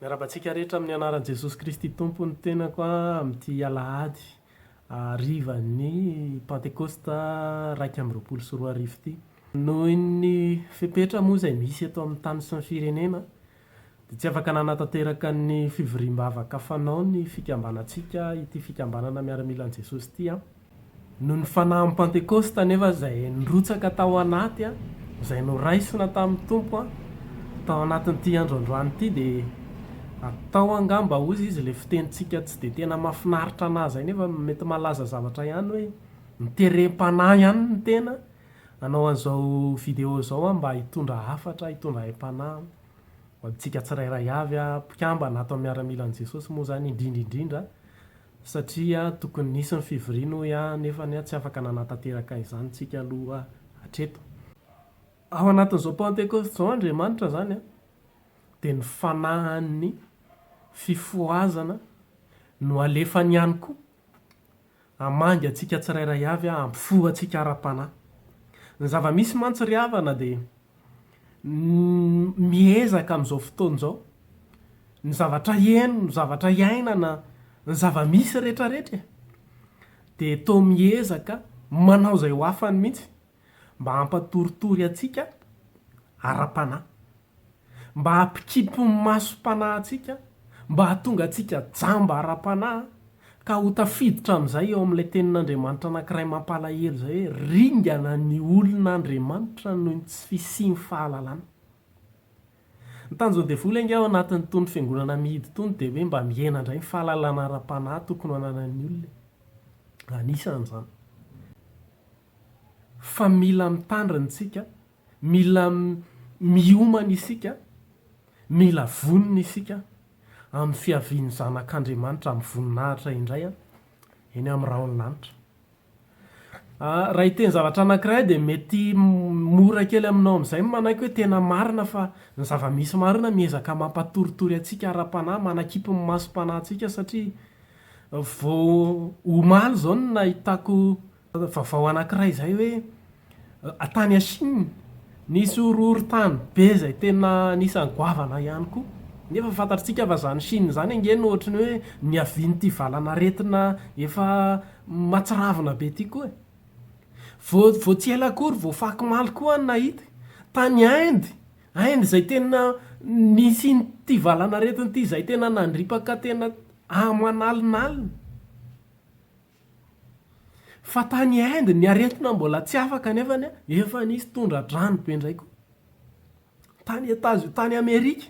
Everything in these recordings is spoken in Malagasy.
Miarahaba antsika rehetra amin'ny anaran'i Jesosy Kristy Tompo ny tenako amin'ity alahady harivan'ny Pantekosta iraika amby roapolo sy roa arivo ity. Noho ny fepetra moa izay misy eto amin'ny tany sy ny firenena dia tsy afaka nanatanteraka ny fivoriam-bavaka fanao ny fikambanantsika, ity fikambanana miaramilan'i Jesosy ity aho. Noho ny Fanahin'ny Pantekôsta anefa izay nirotsaka tao anaty, izay noraisina tamin'ny Tompo tao anatin'ity andro androany ity dia atao angamba hoy izy ilay fitenintsika tsy dia tena mahafinaritra anà izay nefa mety malaza zavatra ihany hoe miterem-panahy ihany ny tena hanao an'izao video izao aho mba hitondra hafatra, hitondra aim-panahy ho antsika tsirairay avy aho, mpikambana ato amin'ny miaramilan'i Jesosy moa izany indrindra indrindra. Satria tokony nisy ny fivoriana hoy aho nefa anie tsy afaka nanatanteraka izany tsika aloha hatreto. Ao anatin'izao Pantekosta izao Andriamanitra izany dia ny fanahin'ny fifohazana no alefany ihany koa hamangy antsika tsirairay avy hampifoha antsika ara-panahy. Ny zava-misy mantsy ry havana dia miezaka amin'izao fotoana izao, ny zavatra heno, ny zavatra iainana, ny zava-misy rehetrarehetra e, dia toa miezaka manao izay ho afany mihitsy mba hampatoritory antsika ara-panahy, mba hampikipy ny masom-panahy antsika, mba hahatonga antsika jamba ara-panahy, Ka ho tafiditra amin'izay eo amin'ilay tenin'Andriamanitra anankiray mampalahelo izay hoe, Ringana ny olon' Andriamanitra noho ny tsy fisian'ny fahalalana. Ny tanjon'ny devoly ange ao anatin'itony fiangonana mihidy itony dia hoe mba mihena indray ny fahalalana ara-panahy tokony ho ananan'ny olona e. Anisan'izany fa mila mitandrina isika Mila miomana isika, mila vonona isika amin'ny fiavian'ny Zanak'Andriamanitra amin'ny voninahitra indray eny amin'ny rahon'ny lanitra. Raha hiteny zavatra anankiray dia mety mora kely aminao amin'izay ny manaiky hoe tena marina fa ny zava-misy marina miezaka mampatoritory antsika ara-panahy, manakipy ny masom-panahintsika satria vao omaly izao no nahitako Vaovao anankiray izay hoe tany à Chine nisy horohorontany be izay tena anisan'ny goavana ihany koa. Nefa fantatritsika fa izany Chine izany ange no ohatry ny hoe niavian'ity valan'aretina efa mahatsiravina be ity koa e. Vao vao tsy ela akory vao fakomaly koa aho nahita tany Inde, Inde izay tena nisian'ity valan'aretina ity izay tena nandripaka tena aman'alinalina. Fa tany Inde ny aretina mbola tsy afaka nefa efa nisy tondra-drano be indray koa. Tany Etazo tany Amerika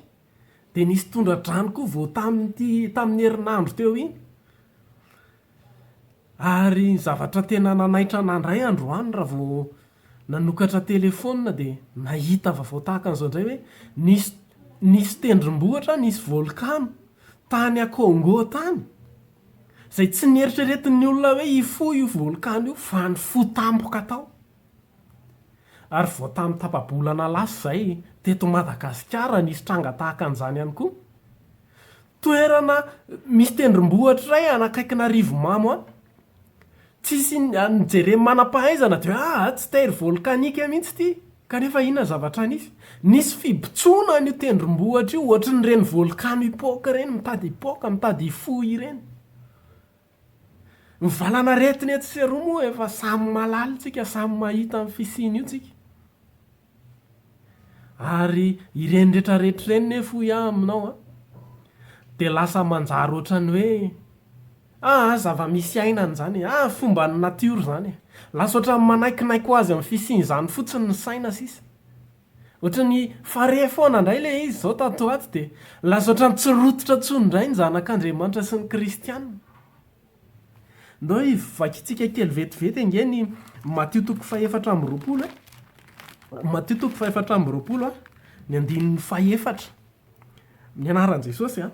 dia nisy tondra-drano koa vao tamin'ity tamin'ny herinandro teo iny. Ary ny zavatra tena nanaitra an'ahy indray androany raha vao nanokatra telefaonina dia nahita vaovao tahaka an'izao indray hoe nisy nisy tendrombohitra nisy volkano tany Congo tany. Izay tsy neritreretin'ny olona hoe hifoha io volkano io fa ny fo tampoka tao. Ary vao tamin'ny tapa-bolana lasa izay, teto Madagasikara, nisy tranga tahaka an'izany ihany koa. Toerana misy tendrombohitra iray any akaikin'Arivomamo any. Tsisy inona no jeren'ny manam-pahaizana dia hoe aa tsy terre volcanique mihitsy ity, kanefa inona ny zavatra nisy? Nisy fibotsoana an'io tendrombohitra io ohatry ny ireny volkano hipoaka ireny, mitady hipoaka, mitady hifoha ireny. Ny valan'aretina etsy sy eroa moa efa samy mahalala isika, samy mahita ny fisian'io isika. Ary ireny rehetra rehetra ireny nefa hoy aho aminao an, dia lasa manjary ohatran'ny hoe, ah ah, zava-misy iainana izany e, ah fomban'ny natiora izany e, lasa ohatran'ny manaikinaiky ho azy amin'ny fisian'izany fotsiny ny saina sisa. Ohatran'ny farihy foana indray ilay izy izao tato ho ato dia lasa ohatran'ny tsy rototra intsony indray ny zanak'Andriamanitra sy ny kristiana. Ndao hivakintsika kely vetivety ange ny Matio toko fahefatra amby roapolo e. Matio toko fahefatra amby roapolo, ny andininy fahefatra. Ny anaran'i Jesosy an.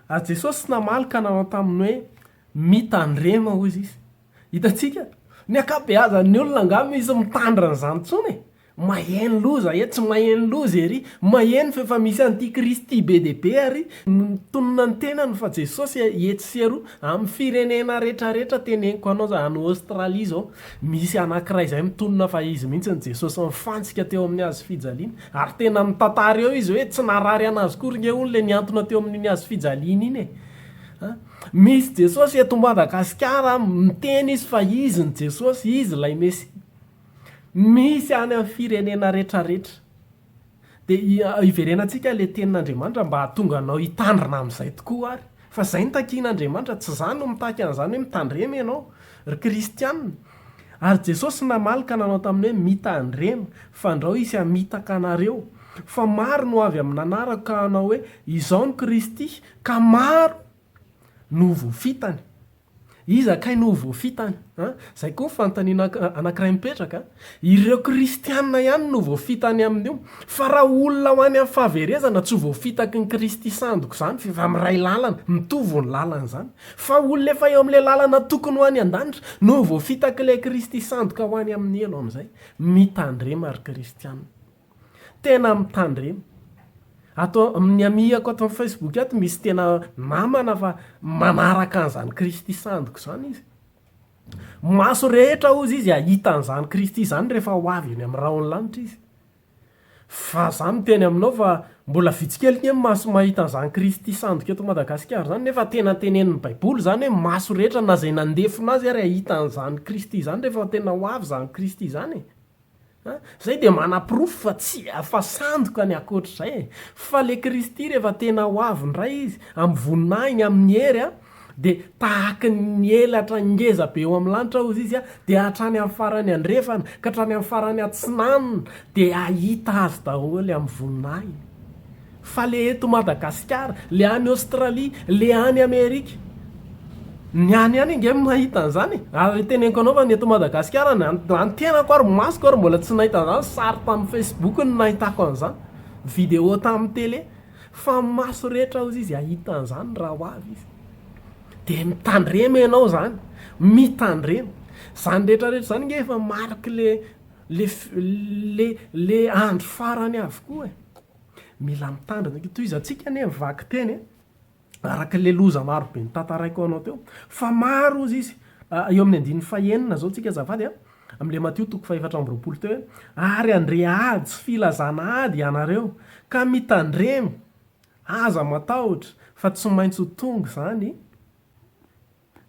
Ary Jesosy namaly ka nanao taminy hoe, Mitandrema, hoy izy. Hitantsika? Ny ankabeazan'ny olona angamba misy mitandrina an'izany intsony e. Maheno loza etsy maheno loza ery, maheno fa efa misy anti kristy be dia be ary ny mitonona ny tenany fa jesosy etsy sy eroa amin'ny firenena rehetra rehetra teneniko anao za any Australie zao misy anakiray zay mitonona fa izy mihintsy ny jesosy nifantsika teo amin'ny hazo fijaliana ary tena mitantara eo izy hoe tsy narary anazy kory nge hono le niantona teo amin'iny hazo fijaliana iny e a misy jesosy eto Madagasikara miteny izy fa izy ny jesosy izy ilay mesia Misy any amin'ny firenena retraretra. Dia hiverenantsika ilay tenin'Andriamanitra mba hahatonga anao hitandrina amin'izay tokoa ary. Fa izay no takin'Andriamanitra, tsy izaho no mitaky an'izany hoe mitandrema ianao, ry kristiana. Ary Jesosy namaly ka nanao taminy hoe, Mitandrema, fandrao hisy hamitaka anareo. Fa maro no avy amin'ny nanarako ka hanao hoe, Izao no Kristy, ka maro no ho voafitany. Iza kay no ho voafitany? A! Izay koa ny fanontaniana anankiray mipetraka. Ireo kristiana ihany no voafitany amin'io. Fa raha olona ho any amin'ny fahaverezana, tsy ho voafitaky ny Kristy sandoko izany, f'efa miray lalana, mitovy ny lalany izany. Fa olona efa eo amin'ilay lalana tokony ho any an-danitra no ho voafitak'ilay Kristy sandoka ho any amin'ny helo amin'izay. Mitandrema ry kristiana. Tena mitandrema. Ato amin'ny amihako ato amin'ny Facebook ato misy tena namana fa manaraka an'izany Kristy sandiko izany izy. Maso rehetra hozy izy hahita an'izany Kristy izany rehefa ho avy eny amin'ny rahon'ny lanitra izy. Fa izaho miteny aminao fa mbola vitsy kely ny maso mahita an'izany Kristy sandiko eto Madagasikara izany nefa tena tenenin'ny Baiboly izany hoe maso rehetra na izay nandefona azy ary hahita an'izany Kristy izany rehefa tena ho avy izany Kristy izany e. A, zay dia manaporofo fa tsy afa sandoka ny akoatr'izay e! Fa le Kristy rehefa tena ho avy indray Izy, amin'ny voninahiny, amin'ny hery a, dia tahaky ny elatra ngeza be eo amin'ny lanitra hozy Izy a, dia hatrany amin'ny farany andrefana ka hatrany amin'ny farany atsinanana dia hahita Azy daholo amin'ny voninahiny. Fa le eto Madagasikara, le any Australie, le any Amerika. Ny any ihany ange mahita an'izany e! Ary teneniko anao fa ny eto Madagasikara, na ny tenako ary masoko ary mbola tsy nahita an'izany, sary tamin'ny Facebook no nahitako an'izany, vidéo tamin'ny télé. Fa ny maso rehetra hozy izy hahita an'izany raha ho avy izy. Dia mitandrema ianao izany, mitandrema. Izany rehetra rehetra izany ange efa mariky le le le andro farany avokoa e! Mila mitandrina eky tohizantsika anie ny vaky teny e! araka le loza maro be notantaraiko anao teo fa maro ozy izy ah, eo amin'ny andininy fahenina zao tsika azafady a, ah, am le Matio toko fahefatra amby roapolo teo hoe ary andre ady sy filazana ady ianareo ka mitandremy aza matahotra fa tsy maintsy ho tonga izany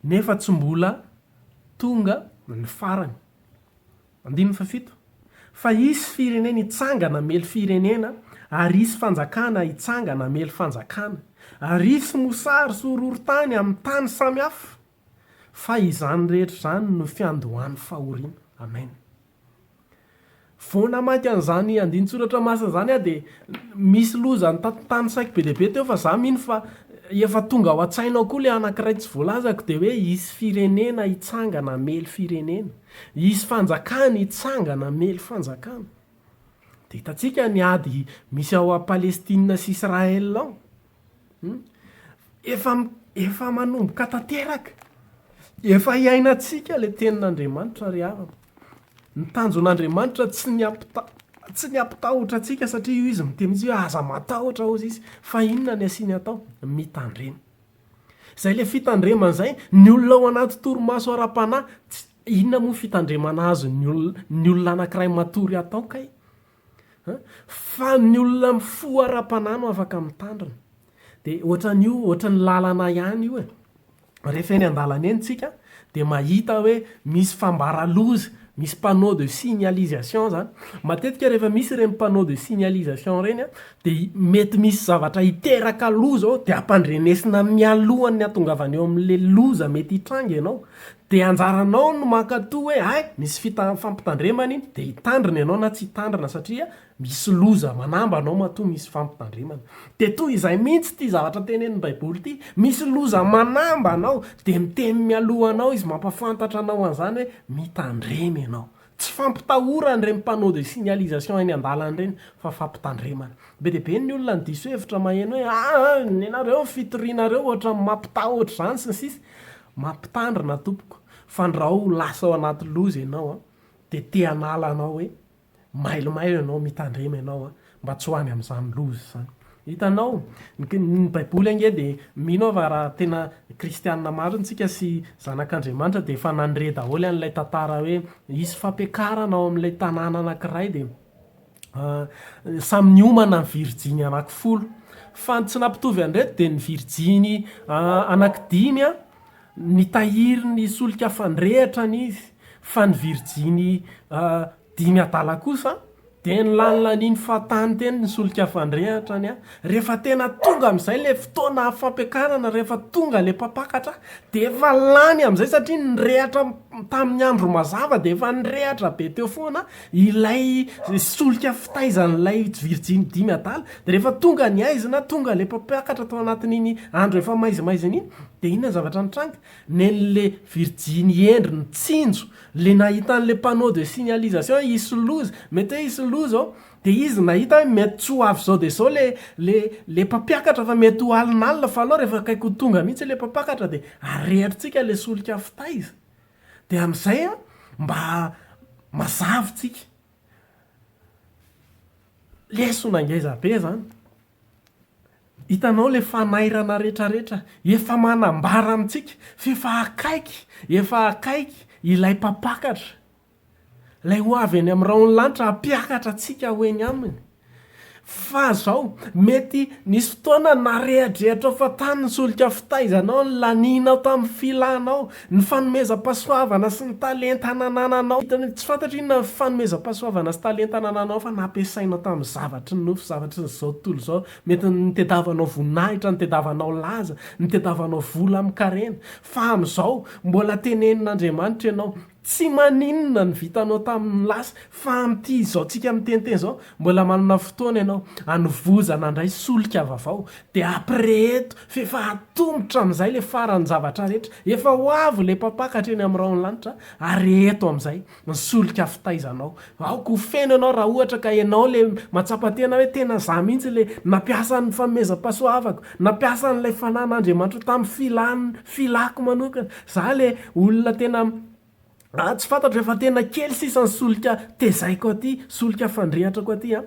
Nefa tsy mbola tonga ny farany. Andininy fahafito, Fa hisy firenena hitsangana hamely firenena, ary hisy fanjakana hitsangana hamely fanjakana, ary hisy mosary sy horohorontany amin'ny tany samy hafa, fa izany rehetra izany no fiandohan'ny fahoriana. Amen. Vao namaky an'izany andinin-tsoratra masina izany aho dia misy loza nitantantany saiko be dia be teo fa izaho mino fa efa tonga ao an-tsaina ao koa ilay anankiray tsy voalazako dia hoe hisy firenena hitsangana hamely firenena, hisy fanjakana hitsangana hamely fanjakana. Dia hitantsika ny ady misy ao Palestina sy Israël ao. Hum efa efa manomboka tanteraka, efa iainantsika le tenin'Andriamanitra ry havana. Ny tanjon'Andriamanitra tsy ny hampita- tsy ny hampitahotra antsika satria io izy miteny mihitsy hoe aza matahotra hozy izy fa inona ny asiany atao? Mitandrema. Zay le fitandremana zay, ny olona ao anaty torimaso ara-panahy, ts- inona moa fitandremana azon'ny olona ny olona anankiray matory atao kay? Fa ny olona mifoha ara-panahy no afaka mitandrina. Dia ohatran'io, ohatran'ny lalana ihany io e. Rehefa eny an-dalana eny tsika dia mahita hoe misy fambara loza, misy panneau de signalisation zany. Matetika rehefa misy ireny panneau de signalisation ireny a, dia mety misy zavatra hiteraka loza ao dia ampandrenesina mialohan'ny hahatongavan'ny eo amin'ilay loza mety hitranga ianao. Dia anjaranao ny mankatò hoe hay misy fita fampitandremana iny dia hitandrina ianao na tsy hitandrina satria misy loza manambana ao matoa misy fampitandremana. Dia toy izay mihitsy ity zavatra tenenin'ny Baiboly ity, misy loza manambana ao dia miteny mialoha anao izy mampafantatra anao an'izany hoe mitandrema ianao. Tsy fampitahorana ireny panneau de signalisation eny an-dalana ireny fa fampitandremana. Be dia be ny olona no diso hevitra maheno hoe aa nenareo ny fitorianareo ohatran'ny mampitahotra izany sy ny sisa Mampitandrina tompoko fa ndrao ho lasa ao anaty loza ianao dia te hanala anao hoe mailomailo ianao mitandrema ianao Mba tsy ho any amin'izany loza izany. Hitanao? Ny Baiboly ange dia mino aho fa raha tena kristiana marina isika sy zanak'Andriamanitra dia efa nandre daholo an'ilay tantara hoe hisy fampiakarana ao amin'ilay tanàna anankiray dia samy niomana ny virjiny anankifolo. Fa ny tsy nampitovy an'ireto dia ny virjiny anankidimy nitahiry ny solika fandrehitra ny izy fa ny virjiny Dimy adala kosa dia ny lanilanin'ny fahatany teny ny solika fandrehatra ny ahy. Rehefa tena tonga amin'izay ilay fotoana fampiakarana, rehefa tonga ilay mpampakatra dia efa lany amin'izay satria nirehatra tamin'ny andro mazava dia efa nirehatra be teo foana ilay solika fitaizan'ilay virjiny dimy adala. Dia rehefa tonga ny haizina, tonga ilay mpampiakatra tao anatin'iny andro efa maizimaizina iny dia inona ny zavatra nitranga? Nen'ilay virjiny hendry nitsinjo Le nahita an'le panneau de signalisation hisy loza, mety hoe hisy loza ao, de izy nahita hoe mety tsy ho avy zao de zao le le le mpampiakatra fa mety ho alinalina fa anao refa akaiky ho tonga mihitsy le mpapakatra de arehatritsika le solika fitaiza de amzay a mba mazavy tsika. Lesona ngeza be zany. Hitanao ilay fanairana retraretra efa manambara amintsika f'efa akaiky efa akaiky ilay mpampakatra, ilay ho avy eny amin'ny rahon'ny lanitra hampiakatra antsika ho eny aminy. Fa zao, mety nisy fotoana narehadrehatrao fa tany ny solika fitaizanao, nilanianao tamin'ny filanao, Ny fanomezam-pahasoavana sy ny talenta nanananao. Hitanao, tsy fantatro inona ny fanomezam-pahasoavana sy talenta nananao fa nampiasainao tamin'ny zavatry ny nofo, zavatry izao tontolo izao. Mety nitadiavanao voninahitra, nitadiavanao laza, nitadiavanao vola amin-karena. Fa amin'izao, mbola tenenin'Andriamanitra ianao. Tsy maninona ny vitanao tamin'ny lasa, fa amin'ity izao tsika miteniteny izao, mbola manana fotoana ianao hanovozana handray solika vavao. Dia ampirehento F'efa atomotra amin'izay ilay faran'ny zavatra rehetra. Efa ho avy ilay Mpampakatra eny amin'ny rahon'ny lanitra, ary eto amin'izay ny solika fitaizanao. Aoka ho feno ianao raha ohatra ka ianao ilay mahatsapa tena hoe tena izaho mihitsy ilay nampiasa ny fanomezam-pahasoavako, nampiasa an'ilay Fanahin'Andriamanitra ho tamin'ny filàko manokana. Izaho ilay olona tena Ah tsy fantatro efa tena kely sisa ny solika tezaiko aty, solika fandrehatrako aty an!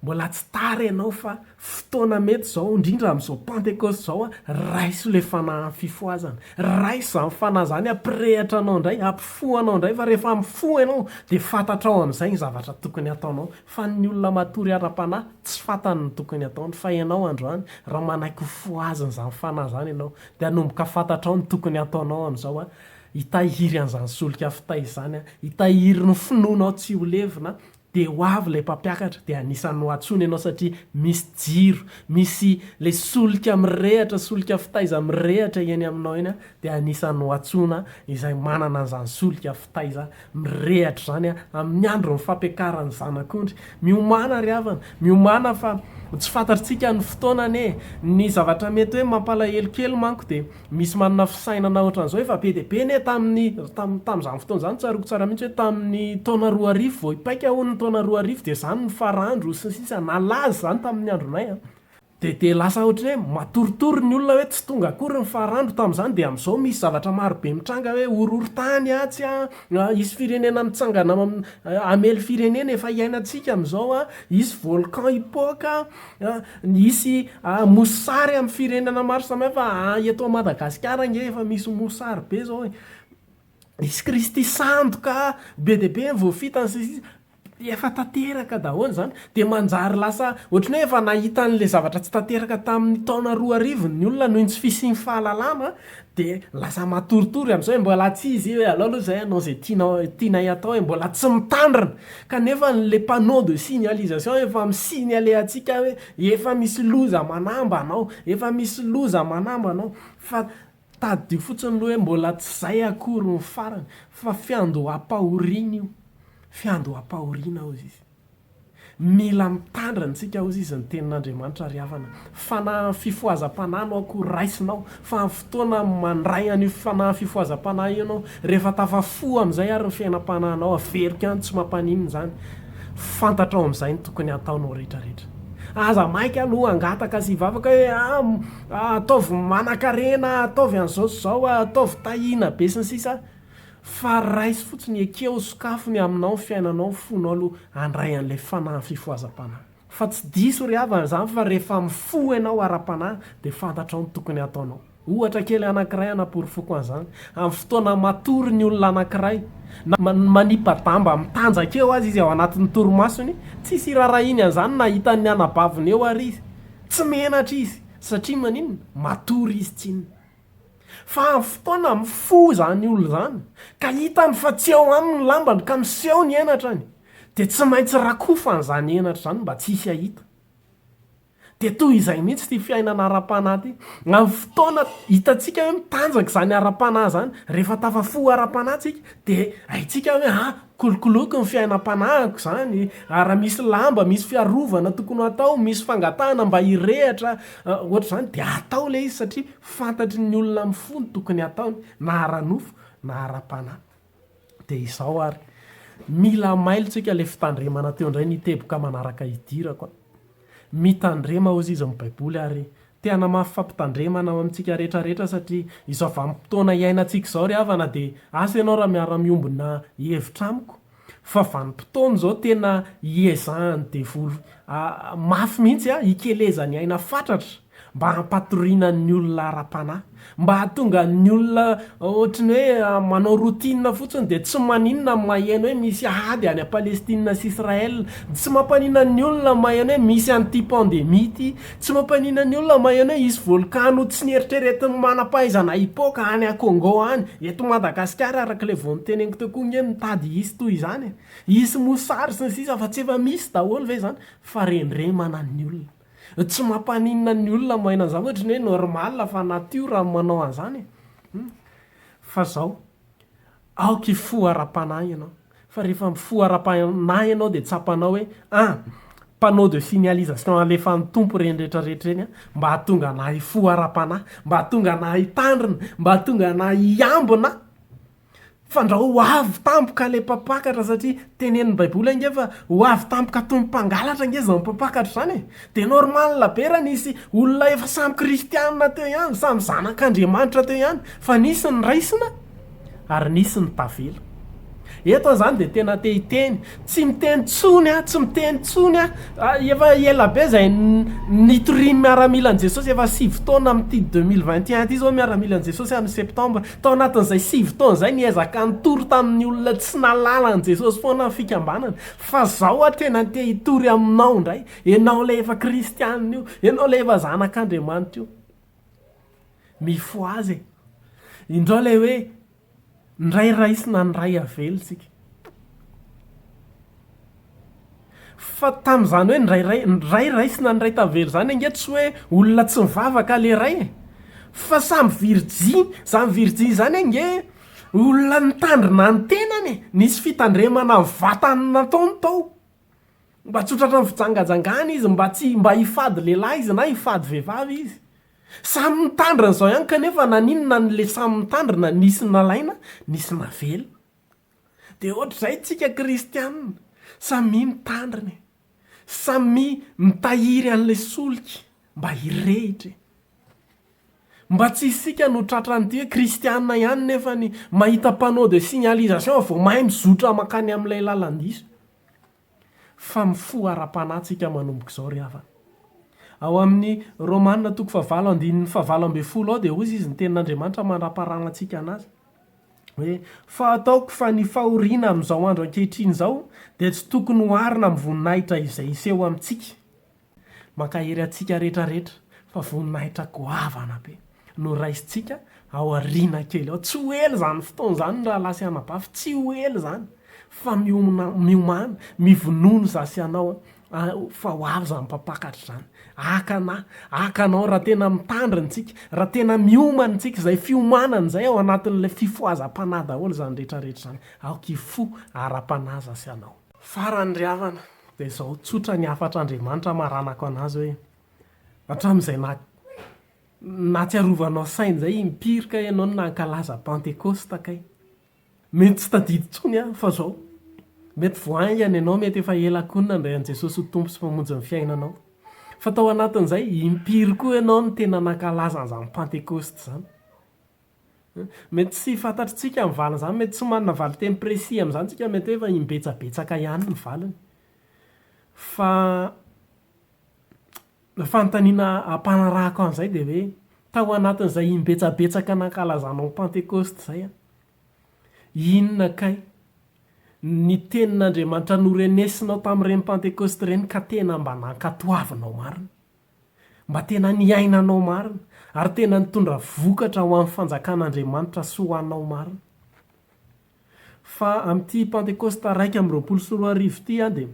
Mbola tsy tara ianao fa fotoana mety izao, indrindra amin'izao pentecoste izao an, raiso le fanahy ny fifohazana, raiso izany fanahy izany hampirehatra anao indray, hampifoha anao indray fa rehefa mifoha ianao dia fantatrao amin'izay ny zavatra tokony ataonao fa ny olona matory ara-panahy tsy fantany ny tokony ataony fa ianao androany raha manaiky ho fohazina izany fanahy izany ianao dia hanomboka fantatrao ny tokony ataonao amin'izao an! Hitahiry an'izany solika fitay izany aho, hitahiry ny finoanao tsy ho levona, dia ho avy ilay mpampiakatra, dia anisan'ny ho antsoina ianao satria misy jiro, misy ilay solika mirehatra, solika fitaiza mirehatra eny aminao eny aho, dia anisan'ny ho antsoina izay manana an'izany solika fitaiza mirehatra izany aho, amin'ny andron'ny fampiakaran'ny Zanak'ondry. Miomàna ry havana, miomàna fa tsy fantatrtsika ny fotoana anie e! Ny zavatra mety hoe mampalahelo kely manko dia, Misy manana fisainana ohatran'izao efa be dia be anie tamin'ny tam tamin'izany fotoana izany tsaroako tsara mihitsy hoe tamin'ny taona roa arivo vao hipaika hono ny taona roa arivo dia izany ny farandro sy ny sisa nalaza izany tamin'ny andronay a dia dia lasa ohatran'ny hoe matoritory ny olona hoe tsy tonga akory ny farandro tamin'izany dia amin'izao misy zavatra maro be mitranga hoe horohorontany atsy a hisy firenena mitsangana hamely firenena efa hiainantsika amin'izao a hisy volcan hipoaka Hisy mosary amin'ny firenana maro samihafa eto Madagasikara ange efa misy mosary be zao e. Misy kristy sandoka be dia be voafitany sy ny sisa efa tanteraka daholo zany de manjary lasa ohatrany hoe efa nahita an'le zavatra tsy tanteraka tamin'ny taona roa arivo ny olona noho ny tsy fisian'ny fahalalana Dia lasa matoritory amin'izao e, mbola tsy izy io e, alao aloha izahay hanao izay tianao, tianay atao e, mbola tsy mitandrina, kanefa ilay panneau de signalisation efa mi-signaler antsika hoe efa misy loza manamba anao, efa misy loza manamba anao, fa tadidio fotsiny aloha hoe mbola tsy izay akory ny farany, fa fiandoham-pahoriana io, fiandoham-pahoriana hozy izy. Mila mitandrina antsika hozy izy ny tenin'Andriamanitra ry havana. Fanahin'ny fifohazam-panahy no akory raisinao, fa amin'ny fotoana mandray an'io fanahin'ny fifohazam-panahy io ianao, rehefa tafafoha amin'izay ary ny fiainam-panahinao, averiko any tsy mampaninona izany, fantatrao amin'izay ny tokony hataonao rehetra rehetra. Aza maika aloha hangataka sy hivavaka hoe ah ataovy manankarena ah, ataovy an'izao sy izao ah, ataovy tahiana be sy ny sisa. Fa raiso fotsiny ekeo, sokafo ny aminao, fiainanao, fonao aloha handray an'ilay fanahy fifohazam-panahy. Fa tsy diso ry havana izany fa rehefa mifoha ianao ara-panahy dia fantatrao ny tokony hataonao. Ohatra kely anankiray hanaporofoko an'izany, amin'ny fotoana matory ny olona anankiray, na manipa-damba mitanjaka eo aza izy ao anatin'ny torimasony, tsisy irarahiny an'izany na hitan'ny anabaviny eo ary izy. Tsy menatra izy, satria maninona? Matory izy tsinona. Fa amin'ny fotoana mifoha izany olona izany, ka hitany fa tsy ao aminy ny lambany, ka miseho ny henatrany, dia tsy maintsy rakofany izany henatra izany mba tsy hisy hahita. Dia toy izay mihitsy ity fiainana ara-panahy ity. Amin'ny fotoana hitantsika hoe mitanjaka izany ara-panahy izany, rehefa tafafoha ara-panahy tsika, dia haintsika hoe, ah! Kolokoloiko ny fiainam-panahiko izany ary raha misy lamba misy fiarovana tokony hatao, misy fangatahana mba hirehatra ohatra izany dia atao ilay izy satria fantatry ny olona mifoha ny tokony hataony na ara-nofo na ara-panahy. Dia izao ary, mila mailo tsika ilay fitandremana teo indray ny teboka manaraka hidirako a! Mitandrema hozy izy ny baiboly ary Te hanamafy fampitandremana ao amintsika rehetra rehetra satria izao vanim-potoana iainantsika izao ry havana dia asa ianao raha miara-miombona hevitra amiko fa vanim-potoana izao tena iezahan'ny devoly mafy mihitsy hikelezany aina fatratra mba hampatoriana ny olona ara-panahy. Mba hahatonga ny olona ohatry ny hoe manao routine fotsiny dia tsy maninona ny maheno hoe misy ady any Palestine sy Israël. Tsy mampaninona ny olona ny maheno hoe misy an'ity pandemie ity. Tsy mampaninona ny olona ny maheno hoe hisy volkano tsy nieritreretin'ny manam-pahaizana hipoaka any à Congo any. Eto Madagasikara araka ilay vao noteneniko teo koa nge mitady hisy toy izany e. Hisy mosary sy ny sisa fa tsy efa misy daholo ve izany? Fa rendremana ny olona. Tsy mampaninona ny olona maina an'izany ohatry ny hoe normal fa natiora no manao an'izany e! Humm! Fa izao, aoka hifoha ara-panahy ianao fa rehefa mifoha ara-panahy ianao dia tsapanao hoe an! panneau de signalisation alefan'ny Tompo ireny rehetra rehetra ireny an! mba hahatonga anah hifoha ara-panahy, mba hahatonga anah hitandrina, mba hahatonga anah hiambina Fandrao ho avy tampoka ilay mpampakatra satria tenenin'ny baiboly ange fa ho avy tampoka toy ny mpangalatra ange izany mpampakatra izany e! dia normal be raha nisy olona efa samy kristianina teo ihany, samy zanak'Andriamanitra teo ihany fa nisy ny raisina ary nisy ny tavela eto aho izany dia tena te hiteny Tsy miteny tsony aho, tsy miteny tsony aho, efa ela be zay nitorian'ny miaramilan'i Jesosy, efa sivy taona amin'ity deux mille vingt et un ity zao ny miaramilan'i Jesosy amin'ny septembre, tao anatin'izay sivy taona izay niezaka nitory tamin'ny olona tsy nahalala an'i Jesosy foana ny fikambanana, fa zao aho tena te hitory aminao indray, enao ilay efa kristianina io, enao ilay efa zanak'Andriamanitra io, mifohaza e! Indrao ilay hoe. Ndray raisina ndray avela tsika. Fa tamin'izany hoe ndray rai ndray raisina ndray tavela zany ange tsy hoe olona tsy mivavaka le ray e! Fa samy virjiny, zany virjiny zany ange olona nitandrina ny tenany e! Nisy fitandremana vatany nataony tao, mba tsy ho tratran'ny fijangajangana izy, mba tsy mba hifady lehilahy izy na hifady vehivavy izy. Samy mitandrina izao ihany kanefa naninona ny le samy mitandrina nisy nalaina nisy navela? Dia ohatr'izay tsika kristianina, samia mitandrina e! Samia mitahiry an'le solika mba hirehitra e! Mba tsy isika no tratran'ity hoe kristianina ihany nefany mahita panneau de signalisation vao mahay mizotra makany amin'ilay lalan-diso. Fa mifoha ara-panahy tsika manomboka izao ry havana. Ao amin'ny Romana toko fahavalo andininy fahavalo ambin'ny folo ao dia hoy izy ny tenin'Andriamanitra mandraparana antsika an'azy hoe fa ataoko fa ny fahoriana amin'izao andro ankehitriny izao dia tsy tokony oharina amin'ny voninahitra izay hiseho amintsika. Mankahery antsika rehetra rehetra fa voninahitra goavana be no raisintsika ao aoriana kely ao. Tsy ho ela izany fotoana izany ry rahalahy sy anabavy, tsy ho ela izany fa miomana, miomana, mivonono za sy ianao an, fa ho avy izany mpampakatra izany. Haka anà, haka anao raha tena mitandrina isika, raha tena miomana isika, izay fiomanana izay ao anatin'ilay fifohazam-panahy daholo izany rehetra rehetra izany. Aoka hifoha ara-panahy za sy ianao. Farany ry havana dia izao tsotra ny hafatr'Andriamanitra maranako an'azy hoe, hatramin'izay nahatsiarovanao saina izay impiry kay ianao no nankalaza Pantekosta kay. Mety tsy tadidy intsony aho fa izao. Mety vao haingana ianao, mety efa ela koa no nandray an'i Jesosy ho Tompo sy Mpamonjy ny fiainanao. Fa tao anatin'izay, impiry koa ianao no tena nankalaza an'izany Pantekosta izany. Mety tsy fantatritsika ny valin'izany, mety tsy manana valin-teny précis amin'izany tsika, mety hoe efa imbetsabetsaka ihany ny valiny. Fa ny fanontaniana ampanarahako an'izay dia hoe, tao anatin'izay imbetsabetsaka nankalazanao ny Pantekôsta izay an, inona kay ny tenin'Andriamanitra norenesinao tamin'ireny Pantekôsta ireny ka tena mba nankatoavinao marina? mba tena niainanao marina ary tena nitondra vokatra ho an'ny fanjakan'Andriamanitra sy ho anao marina. Fa amin'ity Pantekosta iraika amby roapolo sy roa arivo ity aho dia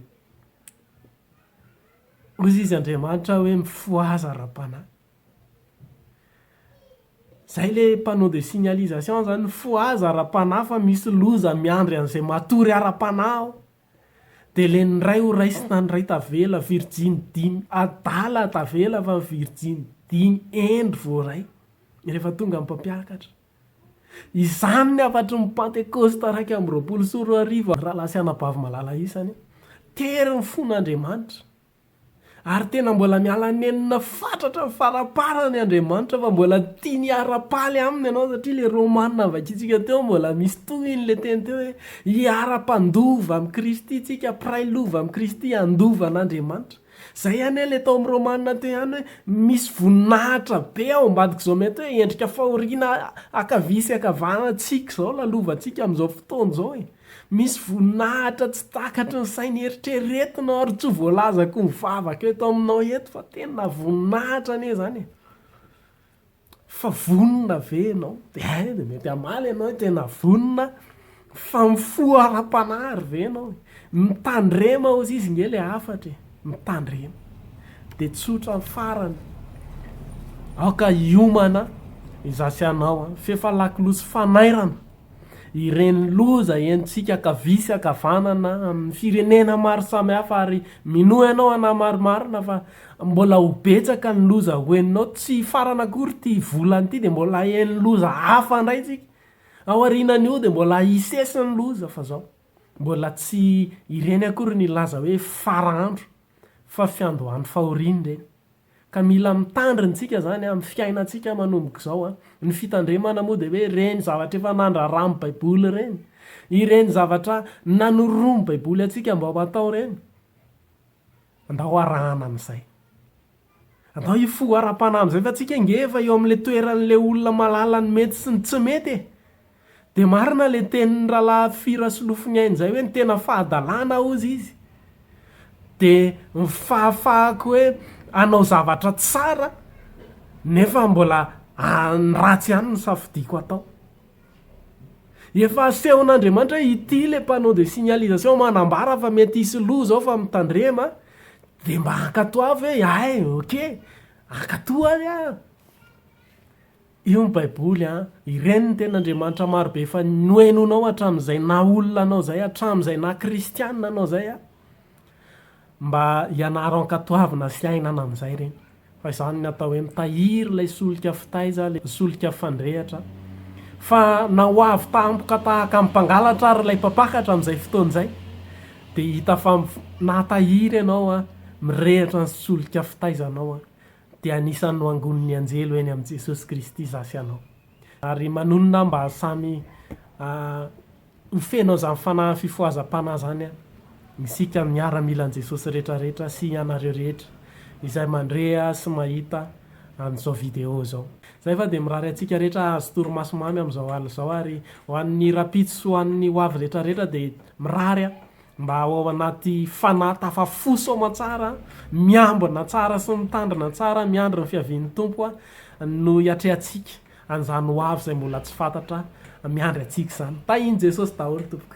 hoy izy Andriamanitra hoe mifohaza ara-panahy. Izay le panneau de signalisation zany, mifohaza ara-panahy fa misy loza miandry an'izay matory ara-panahy aho. Dia le ny ray ho raisina ny ray tavela virjiny dimy adala tavela fa virjiny dimy endry voaray rehefa tonga ny mpampiakatra. Izany ny hafatry ny pantekosta iraika amby roapolo sy roa arivo raha lahy sy anabavy malala isany. Tery ny fon'Andriamanitra. Ary tena mbola miala nenina fatratra ny faramparany Andriamanitra fa mbola tiany hiara-paly aminy ianao satria ilay Romana vakintsika teo mbola misy tohiny ilay teny teo hoe hiara-pandova amin'i Kristy isika, mpiray lova amin'i Kristy handova an'Andriamanitra. Izay anie ilay tao amin'ny Romana teo ihany hoe misy voninahitra be ao ambadik'izao mety hoe endrika fahoriana ankavia sy ankavanana antsika izao lalovantsika amin'izao fotoana izao e. Misy voninahitra tsy takatry ny saina eritreretinao ary tsy ho voalazako ny vavaka eto aminao eto fa tena voninahitra anie zany e! Fa vonona ve ianao? Hay de mety hamaly ianao hoe tena vonona fa mifoha ara-panahy ary ve ianao e? Mitandrema ozy izy nge le hafatra e! Mitandrema de tsotra ny farany aoka hiomana izaho sy ianao f'efa lakolosy fanairana ireny loza henontsika ankavia sy ankavanana amin'ny firenena maro samihafa ary minoa ianao anah marimarina fa mbola ho betsaka ny loza ho henonao tsy hifarana akory ity volana ity dia mbola haheno loza hafa indray isika ao arinan'io dia mbola hisesy ny loza fa zao mbola tsy ireny akory ny laza hoe fara andro fa fiandohan'ny fahoriany ireny Ka mila mitandrina tsika zany amin'ny fiainantsika manomboka izao an! Ny fitandremana moa dia hoe ireny zavatra efa nandrara amin'ny baiboly ireny, ireny zavatra nanoroan'ny baiboly antsika mba ho atao ireny, andao arahana amin'izay. Andao hifoha ara-panahy amin'izay fa tsika nge efa eo amin'ilay toeran'ilay olona mahalala ny mety sy ny tsy mety e! Dia marina le tenin'ny ralaha Fy Rasolofoniaina izay hoe ny tena fahadalana hozy izy dia ny fahafahako hoe hanao zavatra tsara nefa mbola ny ratsy ihany no safidiako hatao. Efa asehon'Andriamanitra hoe ity le panneau de signalisation manambara fa mety hisy lo zao fa mitandrema dia mba hankatoavy hoe hay ok, hankatoa ary aho. Io ny baiboly an! Ireny ny tenin'Andriamanitra marobe efa nohenoinao hatramin'izay naha olona anao izay, hatramin'izay naha kristianina anao izay an! Mba ianaro ankatoavina sy iainana amin'izay ireny. Fa izany ny atao hoe mitahiry ilay solika fitaiza, ilay solika fandrehatra. Fa na ho avy tampoka tahaka ny mpangalatra ary ilay mpampakatra amin'izay fotoana izay, dia hita fa nahatahiry ianao an! Mirehatra ny solika fitaizanao an! dia anisan'ny noangonin'ny anjely ho eny amin'i Jesosy Kristy izaho sy ianao. Ary manonona aho mba samy ho feno an'izany fanahin'ny fifohazam-panahy izany isika miaramilan'i Jesosy rehetrarehetra sy ianareo rehetra izay mandre sy mahita an'izao vidéo izao. Izay fa dia mirary antsika rehetra hahazo torimaso mamy amin'izao alina izao ary ho an'ny rahampitso sy ho an'ny hoavy rehetrarehetra dia mirary aho Mba ho ao anaty fanahy tafafoso aman-tsara, miambina tsara sy mitandrina tsara, miandry ny fiavian'ny Tompo, no iatrehantsika an'izany ho avy izay mbola tsy fantatra miandry antsika izany. Tahin'i Jesosy daholo tompoko.